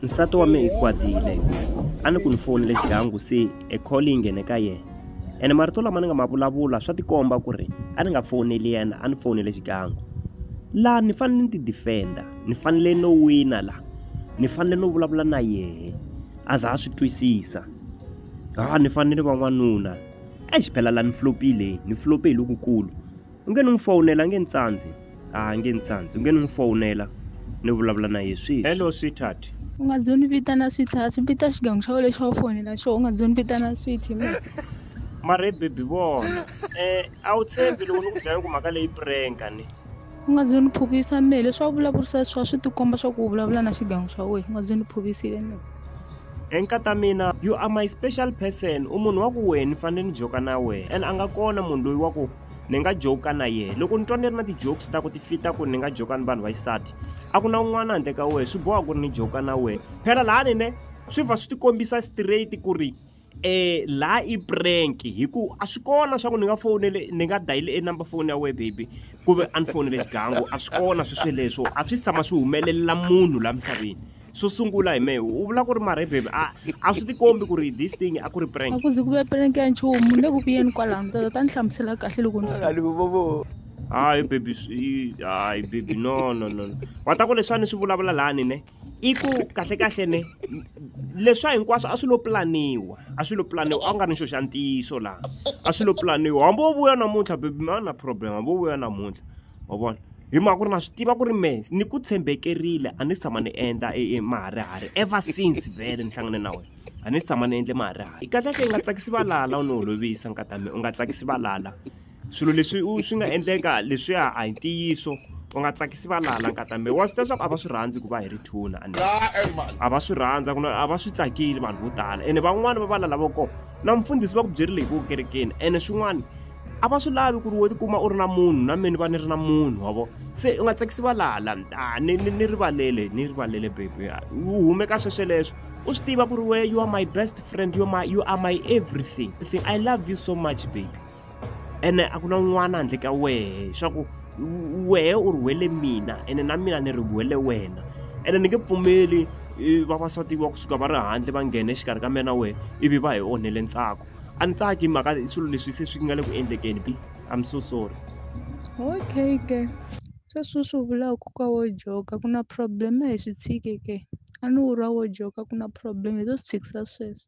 nsati wa me i kwatile a ni ku ni fonele dyangu se e call yi nghene ka yena ene marito lama ni nga ma vulavula swa tikomba ku ri a ni nga foneli yena a ni fonele xigangu laha ni fanele ni ti defenda ni fanele no wina laha ni fanele no vulavula na yehe a za a swi twisisa ha ni fanele va n'wanuna exi phela la ni flopile ni flope hi lokukulu u nge ni n'wi fowunela a nge ni tsandzi a nge ni tsandzi u nge ni n'wi fowunela ni vulavula na ye sweswi hello sweetheart u nga zoni vitana sweetheart vita xigangu xa wena lexi wa fonela xo u nga zoni vitana sweetie me mare bebi vona um a wu tshembi loko ni ku byela ku mhaka leyi prenka ni u nga zoni phuvisa me leswi wa vulavurisa swa swi tikomba swa ku u vulavula na xigangu xa wena u nga zoni phuvisile me enkata mina you are my special person u munhu wa ku wena ni fanele ni joka na wena and a nga kona munhu loyi wa ku ni nga joke na yena loko ni twa ni ri na ti-jokes ta ku ti fita ku ni nga joka ni vanhu va xisati a ku na un'wana handle ka wena swi boha ku ri ni joka na wena phela laha ni ne swi va swi ti kombisa straight ku ri eh la i prank hi ku a swi kona swa ku ni nga fonele ni nga dayile e number phone ya wena baby ku ve a ni fonele xigangu a swi kona swi sweleswo a swi tshama swi humelelela munhu la misaveni swo sungula hi mehe u vula ku ri marhebhebhe a a swi tikombi ku ri this thing a ku ri prank a ku zi ku ve prank ya nchumu ni le ku vuyeni kwalano tata ta ni hlamusela kahle loko ni hayi baby hayi baby no no no wa ta ku leswi a ni swi vulavula lani ne i ku kahlekahle ne leswa hinkwaswo a swi lo pulaniwa a swi lo pulaniwa a ku nga ri nxo xa ntiyiso laha a swi lo pulaniwa hambi wo vuya namuntlha baby ma na problem hambi wo vuya namuntlha wa vona hi mhaka ku ri na swi tiva ku ri me ni ku tshembekerile a ni si tshama ni endla e, e maharihari ever since vele ni hlangane na wena a ni si tshama ni endle maharihari kahlekahle i nga tsakisi valala u ni holovisa nkatame u nga tsakisi valala swilo leswi u swi nga endleka leswiya a hi ntiyiso u nga tsakisi valala nkatame wa swi ta leswaku a va swi rhandzi ku va hi ri thuna a va swi rhandza ku a va swi tsakile vanhu vo tala ene van'wani va valala vo kona na mfundhisi va ku byerile hi ku kerekeni ene swin'wana a va swi lavi ku ri wo tikuma u ri na munhu na meni va ni ri na munhu wa vo se u nga tsakisi va laha la a ah, ni ni rivalele ni rivalele baby ah, u hume ka swesweleswo u swi tiva ku ri we you are my best friend you are my, you are my everything i love you so much baby ene a ku na un'wana handle ka wehe swa ku wehe u rhwele mina ene na mina ni rhwele wena ene ni nge pfumeli vavasati wa kusuka va ri handle va nghena exikarhi ka mina na wehe ivi va hi onhele ntsako a ni tsaki mhaka swilo leswi se swi nga le ku endlekeni bi i'm so sorry okay ke sweswi swi vulaka ka wo joga ku na problem a hi swi tshike ke a ni wu rwa wo joga ku na problem hi to swi tshikisa sweswo